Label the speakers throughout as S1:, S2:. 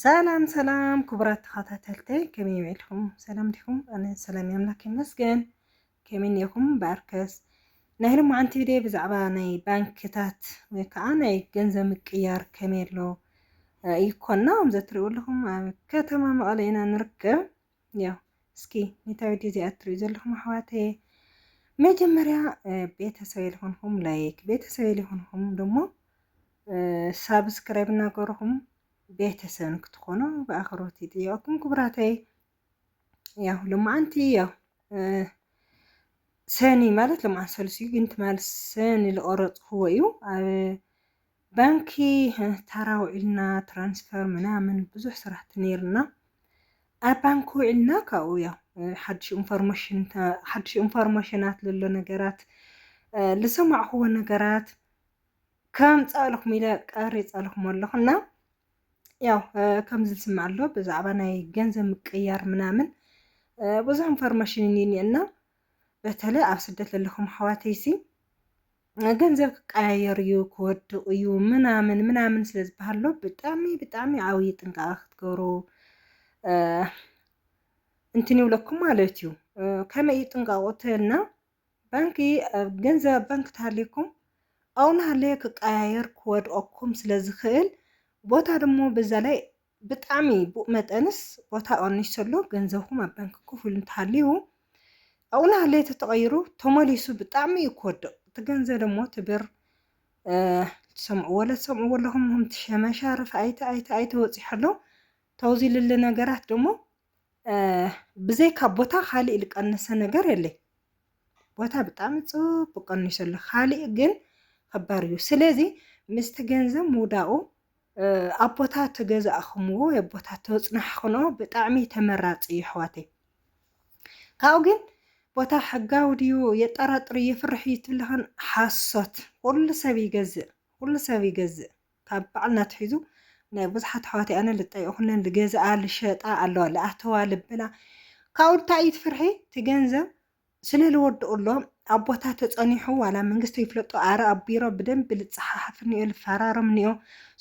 S1: ሰላም ሰላም ክቡራት ተኸታተልተይ ከመይ ይውዕልኩም ሰላም ዲኹም ኣነ ሰላም ኣምላክ ይመስገን ከመይ ኔኹም በኣርከስ ናይ ሎማዓንቲ ቪድዮ ብዛዕባ ናይ ባንክታት ወይ ከዓ ናይ ገንዘብ ምቅያር ከመይ ኣሎ ይኮና ከምዚ ትሪኡ ኣለኹም ኣብ ከተማ መቐለ ኢና ንርከብ ያው እስኪ ኒታ ቪድዮ እዚኣ እትሪኡ ዘለኹም ኣሕዋተየ መጀመርያ ቤተሰብ የልኾንኹም ላይክ ቤተሰብ የልኾንኹም ደሞ ሳብስክራይብ እናገርኹም ቤተሰብ ንክትኾኑ ብኣኽብሮት ይጥየቀኩም ክቡራተይ ያው ልማዓንቲ ያው ሰኒ ማለት ልማዓን ሰሉስ እዩ ግን ትማል ሰኒ ዝቆረፅክዎ እዩ ኣብ ባንኪ ታራ ውዒልና ትራንስፈር ምናምን ብዙሕ ስራሕቲ ነይርና ኣብ ባንኪ ውዒልና ካብኡ ያው ሓድሽ ኢንፎርሜሽን ሓድሽ ኢንፎርሜሽናት ዘሎ ነገራት ዝሰማዕኹዎ ነገራት ከምፃእልኹም ኢለ ቀሪፀልኹም ኣለኹ እና ያው ከምዚ ዝስማዕ ኣሎ ብዛዕባ ናይ ገንዘብ ምቅያር ምናምን ብዙሕ ኢንፎርሜሽን እኒኒ እና በተለይ ኣብ ስደት ዘለኹም ኣሕዋተይሲ ገንዘብ ክቀያየር እዩ ክወድቕ እዩ ምናምን ምናምን ስለ ዝበሃል ሎ ብጣዕሚ ብጣዕሚ ዓብዪ ጥንቃቐ ክትገብሩ እንትን ይብለኩም ማለት እዩ። ከመይ እዩ ጥንቃቑ እተልና ባንኪ ገንዘብ ኣብ ባንኪ ተሃልየኩም ኣብኡ እናሃለየ ክቀያየር ክወድቐኩም ስለ ዝኽእል ቦታ ድሞ በዛ ላይ ብጣዕሚ ቡእ መጠንስ ቦታ ቀኒሱ ኣሎ ገንዘብኩም ኣብ ባንኪ ኮፍ ኢሉ እንተሃልዩ ኣብኡ ናሃለየ ተተቐይሩ ተመሊሱ ብጣዕሚ እዩ ክወድቕ እቲ ገንዘብ ደሞ እቲ ብር ትሰምዕዎ ለትሰምዕዎ ኣለኹም ምሁም ትሸመሻርፍ ኣይተ ኣይተ ኣይተ ወፂሑ ኣሎ ተውዚልሊ ነገራት ደሞ ብዘይካ ቦታ ካሊእ ዝቀነሰ ነገር የለይ ቦታ ብጣዕሚ ፅቡቅ ቀኒሱ ኣሎ ካሊእ ግን ከባድ እዩ ስለዚ ምስቲ ገንዘብ ምውዳቁ ኣብ ቦታ ተገዛእኹምዎ ኣብ ቦታ ተፅናሕኹኖ ብጣዕሚ ተመራፂ እዩ ኣሕዋተይ ካብኡ ግን ቦታ ሕጋዊ ድዩ የጠራጥር የፍርሕ እዩ ትብልኽን ሓሶት ኩሉ ሰብ ይገዝእ ኩሉ ሰብ ይገዝእ ካብ ባዕልና ኣትሒዙ ናይ ብዙሓት ኣሕዋተይ ኣነ ልጠይቕኩለን ልገዝኣ ልሸጣ ኣለዋ ልኣተዋ ልብላ ካብኡ እንታይ እዩ ትፍርሒ እቲ ገንዘብ ስለ ልወድኡ ኣሎ ኣብ ቦታ ተጸኒሑ ዋላ መንግስቲ ይፍለጦ ኣረ ኣብ ቢሮ ብደንብ ልጸሓሓፍ እኒኦ ልፈራረም እኒኦ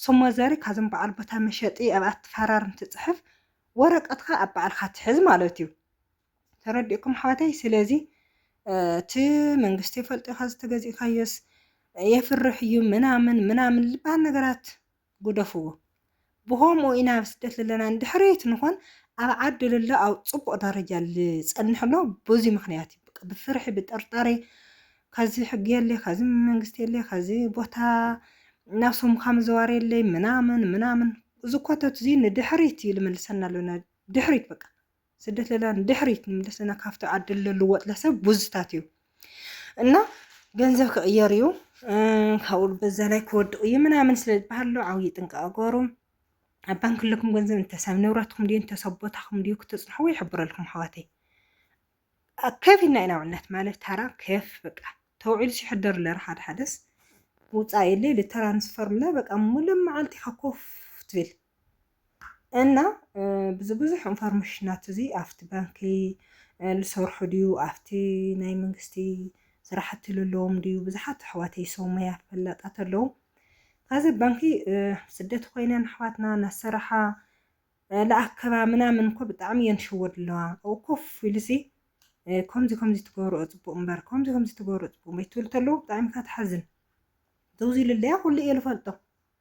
S1: ስሞ ዘሪ ካብዞም በዓል ቦታ መሸጢ ኣብኣ ትፈራርም ትጽሕፍ ወረቀትካ ኣብ በዓልካ ትሕዝ ማለት እዩ ተረዲእኩም ኣሕዋተይ ስለዚ እቲ መንግስቲ ይፈልጦ ኢካ ዝተገዚእካዮስ የፍርሕ እዩ ምናምን ምናምን ዝበሃል ነገራት ጉደፍዎ ብከምኡ ኢና ኣብ ስደት ዘለና ንድሕሪት ንኮን ኣብ ዓዲ ልሎ ኣብ ፅቡቅ ደረጃ ልፀንሕ ኣሎ ብዙይ ምክንያት እዩ በቃ ብፍርሒ ብጥርጣሬ ከዚ ሕጊ የለይ ከዚ መንግስቲ የለይ ከዚ ቦታ ናብ ሶምካ ምዘዋር የለይ ምናምን ምናምን እዚ ኮተት እዚ ንድሕሪት እዩ ልመልሰና ኣሎ ድሕሪት በቃ ስደት ለላ ንድሕሪት ንምለስ ለና ካብቲ ዓዲ ልልወጥ ለሰብ ቡዝታት እዩ እና ገንዘብ ክቕየር እዩ ካብኡ በዛ ላይ ክወድቕ እዩ ምናምን ስለ ዝበሃል ሎ ዓብዪ ጥንቃቐ ገሩ ኣብ ባንክ ኣለኩም ገንዘብ እንተሳብ ንብረትኩም ድዩ እንተሰብ ቦታኹም ድዩ ክትፅንሕዎ ይሕብረልኩም ኣሕዋተይ ከፊልና ኢና ውዕልናት ማለት ታራ ከፍ በቃ ተውዒሉ ሲሕደር ለር ሓደ ሓደስ ውፃእ የለ ልተራንስፈርም ለ በቃ ሙሉእ መዓልቲ ኢኻ ኮፍ ትብል እና ብዚ ብዙሕ ኢንፎርሜሽናት እዚ ኣብቲ ባንኪ ዝሰርሑ ድዩ ኣብቲ ናይ መንግስቲ ስራሕቲ ዘለዎም ድዩ ብዙሓት ኣሕዋተይ ሰው ሞያ ፈላጣት ኣለዉ ካብዚ ባንኪ ስደት ኮይነን ኣሕዋትና እናሰራሓ ለኣከባ ምናምን እኮ ብጣዕሚ እየን ትሽወድ ኣለዋ ኣብኡ ኮፍ ኢሉሲ ከምዚ ከምዚ ትገብርኦ ፅቡቅ እምበር ከምዚ ከምዚ ትገብርኦ ፅቡቅ እምበር ትብል ተለዉ ብጣዕሚ እካ ትሓዝን ደውዚ ኢሉ ኣለያ ኩሉ እየ ዝፈልጦ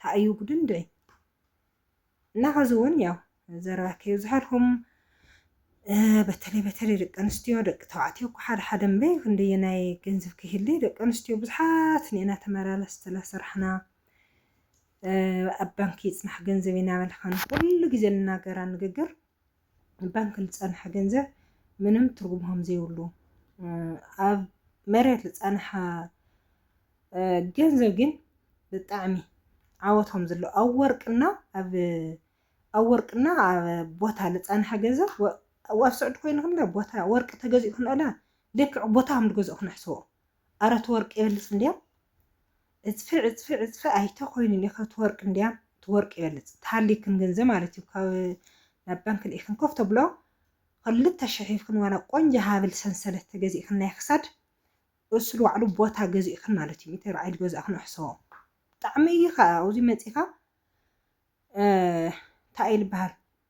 S1: ታይ እዩ ጉዱ እንድዒ እና ሐዚ እውን ያው ዘረባ ከይብዝሐልኩም በተለይ በተለይ ደቂ ኣንስትዮ ደቂ ተባዕትዮ እኮ ሓደ ሓደ እምበይ ክንደየናይ ገንዘብ ከይህሊ ደቂ ኣንስትዮ ብዙሓት ንኤና ተመላለስ ስለሰራሕና ኣብ ባንኪ ይፅናሕ ገንዘብ ኢና በልካን ኩሉ ግዜ ንናገራ ንግግር ባንኪ ልፀንሐ ገንዘብ ምንም ትርጉም ከምዘይብሉ ኣብ መሬት ልፀንሐ ገንዘብ ግን ብጣዕሚ ዓወት ከምዘሎ ኣብ ወርቅና ኣብ ኣብ ወርቅና ኣብ ቦታ ልፀንሐ ገንዘብ ኣብ ስዑድ ኮይኑ ክንደ ቦታ ወርቂ ተገዚኡ ክንእለ ልክዕ ቦታ ከም ዝገዝኡ ክነሕስቦ ኣረ ትወርቅ ይበልጽ እንድያም ዕጽፊ ዕጽፊ ዕጽፊ ኣይተ ኮይኑ እንድዩ ካብ ትወርቅ እንድያም ትወርቅ ይበልጽ ተሃሊክን ገንዘብ ማለት እዩ ካብ ናብ ባንክ ልኢክን ኮፍ ተብሎ ክልተ ሽሕ ሂብክን ዋላ ቆንጆ ሃብል ሰንሰለት ተገዚእክን ናይ ክሳድ እሱ ባዕሉ ቦታ ገዚእክን ማለት እዩ ሚእቲ ርዓይ ዝገዛእክን ኣሕሰቦ ብጣዕሚ እዩ ከዓ ኣብዚ መጺካ እንታይ እዩ ዝበሃል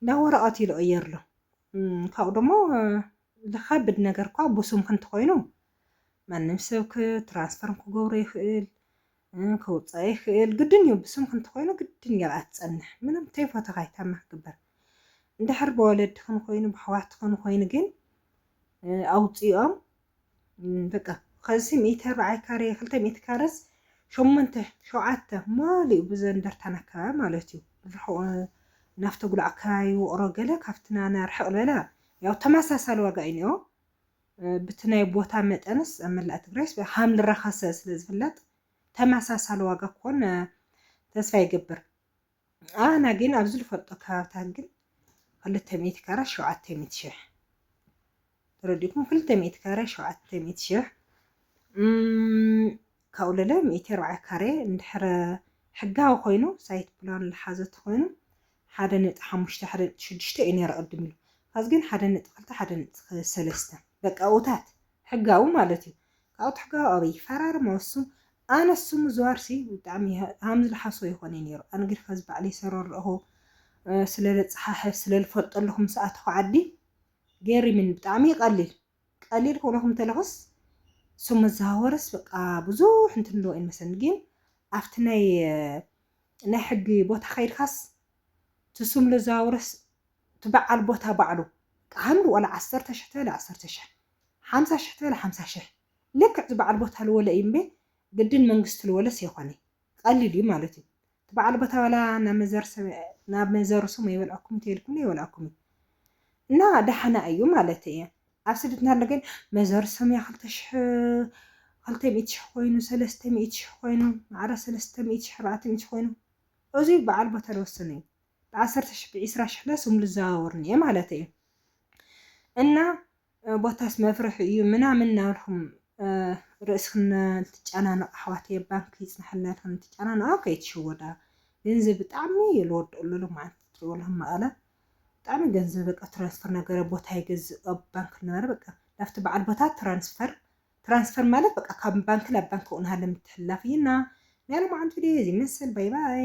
S1: እንዳ ወረቐት ኢሉ ቐየርሉ። ካብኡ ደሞ ልኸብድ ነገር እኳ ብስምኪ እንተኾይኑ ማንም ሰብ ትራንስፈርም ክገብሮ ይኽእል ከውፃእ ይኽእል ግድን እዩ ብስምኪ እንተኾይኑ ግድን እያ ኣብኣ ትፀንሕ ምንም ተይፎተኻ ይታማ ክግበር እንድሕር ብወለድኽን ኮይኑ ብኣሕዋትኽን ኮይኑ ግን ኣውፅኦም በቃ ከዚ ሚእቲ ኣርባዓይ ካሬ ክልተ ሚእቲ ካረስ ሸሞንተ ሸውዓተ ማሊኡ ብዘ እንደርታን ኣከባቢ ማለት እዩ ርሑቕ ናፍቲ ጉልዕ ኣከባቢ ውቕሮ ገለ ካብቲ ናና ርሕቕ ዝበለ ያው ተመሳሳሊ ዋጋ እዩ ኒኦ ብቲ ናይ ቦታ መጠንስ ኣብ መላእ ትግራይስ ሃም ልረኸሰ ስለ ዝፍለጥ ተመሳሳሊ ዋጋ ክኾን ተስፋ ይገብር ኣና ግን ኣብ ዝልፈልጦ ከባብታት ግን ክልተ ሚእቲ ካራ ሸውዓተ ሚእቲ ሽሕ ተረዲእኩም ክልተ ሚእቲ ካሬ ሸውዓተ ሚእቲ ሽሕ ካብኡ ለለ ሚእቲ ኣርባዓ ካሬ እንድሕረ ሕጋዊ ኮይኑ ሳይት ፕላን ዝሓዘ ተኮይኑ ሓደ ነጥቢ ሓሙሽተ ሓደ ነጥቢ ሽዱሽተ እዩ ነይሩ ቅድም ኢሉ ካብዚ ግን ሓደ ነጥቢ ክልተ ሓደ ነጥቢ ሰለስተ በቃ ኡታት ሕጋዊ ማለት እዩ ካብኡ ትሕጋዊ ኣበይ ይፈራርም ኣሱ ኣነስ ስሙ ዝዋርሲ ብጣዕሚ ሃም ዝልሓሶ ይኾነይ ነይሩ ኣነ ግን ኸዚ ባዕለይ ሰረረእኹ ስለለፀሓሕፍ ስለልፈልጦ ኣለኹ ምስ ኣተኹ ዓዲ ገሪምን ብጣዕሚ ቀሊል ቀሊል ኮነኹም ተለኹስ ስሙ ዝዛወርስ በቃ ብዙሕ እንትን ኣለዎ እዩ መሰለኒ ግን ኣብቲ ናይ ናይ ሕጊ ቦታ ከይድካስ ትስም ለዛውርስ ትበዓል ቦታ ባዕሉ ቃሃሉ ወላ ዓሰርተ ሽሕ ተበለ ዓሰርተ ሽሕ ሓምሳ ሽሕ ተበለ ሓምሳ ሽሕ ልክዕ እቲ በዓል ቦታ ልወለ እዩ እምቤ ግድን መንግስቲ ልወለስ የኮነ ቀሊል እዩ ማለት እዩ እቲ በዓል ቦታ ወላ ናብ መዘሩ ሰም ኣይበልኣኩም ተይልኩም ኣይበልኣኩም እዩ እና ዳሕና እዩ ማለት እየ ኣብ ስደት እንሃሎ ግን መዘሩ ሰም እያ ክልተ ሽሕ ክልተ ሚእቲ ሽሕ ኮይኑ ሰለስተ ሚእቲ ሽሕ ኮይኑ ማዕረ ሰለስተ ሚእቲ ሽሕ ኣርባዕተ ሚእቲ ኮይኑ እዙይ በዓል ቦታ ልወስን እዩ ብዓሰርተ ሽሕ ብዒስራ ሽሕ ለ ስም ልዘዋወርኒ እየ ማለት እዩ እና ቦታስ መፍርሒ እዩ ምናምን እናበልኩም ርእስክን ትጨናነቃ ኣሕዋተየ ባንኪ ይፅናሓልና ኢልክን ትጨናነቃ ከይትሽወዳ ገንዘብ ብጣዕሚ እዩ ዝወደኣሉ ሎም መዓንቲ ትሪእዎ ኣለኩም መቐለ ብጣዕሚ ገንዘብ በቃ ትራንስፈር ነገረ ቦታ ይገዝእ ኣብ ባንክ ነበረ በቃ ናብቲ በዓል ቦታ ትራንስፈር ትራንስፈር ማለት በቃ ካብ ባንክ ናብ ባንክ ቁንሃለ ምትሕላፍ እዩና ናይ ሎማዓንቲ ቪድዮ እዚ መሰል ባይ ባይ